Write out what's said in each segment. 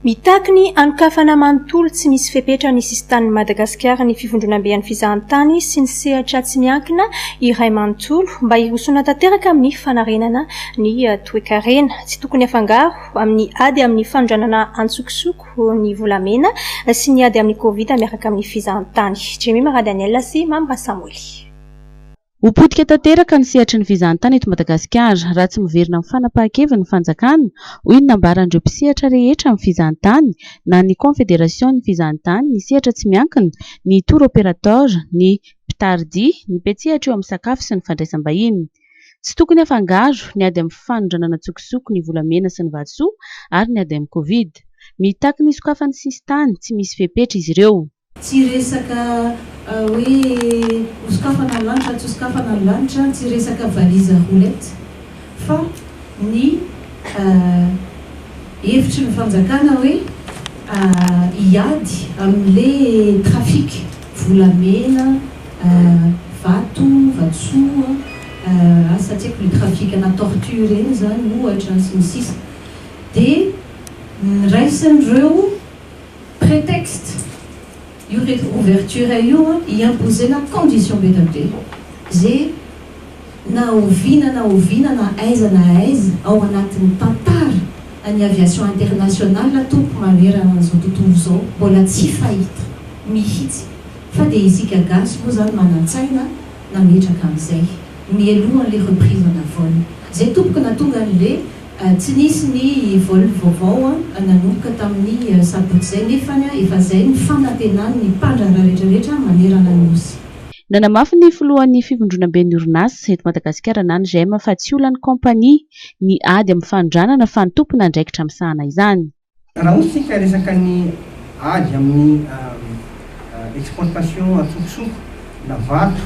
Mitaky ny hanokafana manontolo tsy misy fepetra ny sisintanin'i Madagasikara ny Fivondronamben'ny Fizahantany sy ny sehatra tsy miankina iray manontolo mba hirosoana tanteraka amin'ny fanarenana ny toekarena. Tsy tokony afangaro amin'ny ady amin'ny fanondranana antsokosoko ny volamena sy ny ady amin'ny Covid miaraka amin'ny fizahantany. Jemima Radaniel sy Mamy Rasamoly. Ho potika tanteraka ny sehatry ny fizahantany eto Madagasikara raha tsy miverina amin'ny fanapahan-keviny ny fanjakana, hoy ny nambaran'ireo mpisehatra rehetra amin'ny fizahantany, na ny Konfederasion'ny fizahantany, ny sehatra tsy miankina, ny tour opérateur, ny mpitardia, ny mpiantsehatra eo amin'ny sakafo sy ny fandraisam-bahiny. Tsy tokony afangaro ny ady amin'ny fanondranana an-tsokosoko ny volamena sy ny vatosoa ary ny ady amin'ny covid. Mitaky ny sokafan'ny sisintany tsy misy fepetra izy ireo. Tsy resaka hoe hosokafana ny lanitra tsy hosokafana ny lanitra, tsy resaka valise à roulettes fa ny hevitry ny fanjakana hoe hiady amin'le trafic volamena, vato, vatosoa, asa tsy haiko le trafic ana tortue ireny zany ohatra sy ny sisa de niraisin'ireo. Prétexte, io le ouverture io an, iambozena condition be da be, ze na oviana na oviana na aiza na aiza ao anatin'ny tantara an'ny aviation internationale tompoko manerana an'izao tontolo izao mbola tsy fahita mihitsy fa dia isika gasy moa izany manan-tsaina nametraka an'izay mialohan'le reprise en vol zay tompoko na tonga an'le Tsy nisy ny vol vaovao nanomboka tamin'ny sabotsy izay nefa efa izay ny fanantenan'ny mpandraharaha rehetrarehetra manerana ny Nosy. Nanamafy ny filohan'ny fivondronamben'ny orinasa eto Madagasikara na ny GEM fa tsy olan'ny kaompania ny ady amin'ny fanondranana fa ny tomponandraikitra misahana izany. Raha hoy isika resaka ny ady amin'ny exportation antsokosoko na vato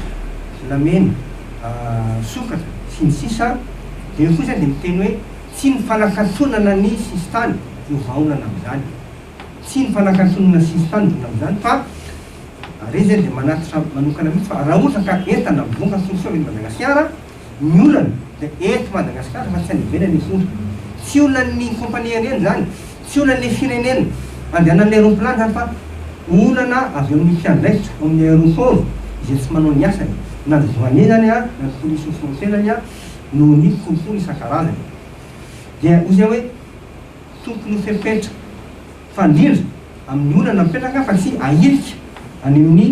na mena, sokatra, sy ny sisa Dia eo koa izany dia miteny hoe tsy ny fanakatonana ny sisintany no vahaolana amin'izany. Tsy ny fanakatonana sisintany no vahaolana amin'izany fa Re izay dia manatitra manokana mihitsy fa raha ohatra ka entana vokatsoa soa avy eto Madagasikara, Ny olana dia eto Madagasikara fa tsy any ivelany intsony. Tsy olan'ny compagnie aerienne izany, tsy olan'ny firenena andehanan'ny aeroplany izany fa olana avy amin'ny mpiandraikitra ao amin'ny aéroport izay tsy manao ny asany, na ny douanier izany na ny police aux frontières izany noho ny kolikoly isan-karazany. Dia hoy izay hoe tokony ho fepetra fa indrindra amin'ny olana mipetraka fa tsy ahirika any amin'ny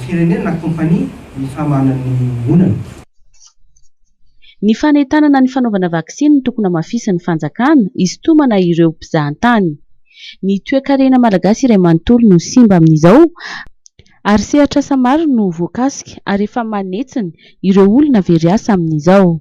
firenena na kompania ny fahamahana ny olana. Ny fanentanana ny fanaovana vaksiny no tokony hamafisin'ny fanjakana hisintomana ireo mpizahantany. Ny toekarena malagasy iray manontolo no simba amin'izao ary sehatr'asa maro no voakasika ary efa manetsiny ireo olona very asa amin'izao.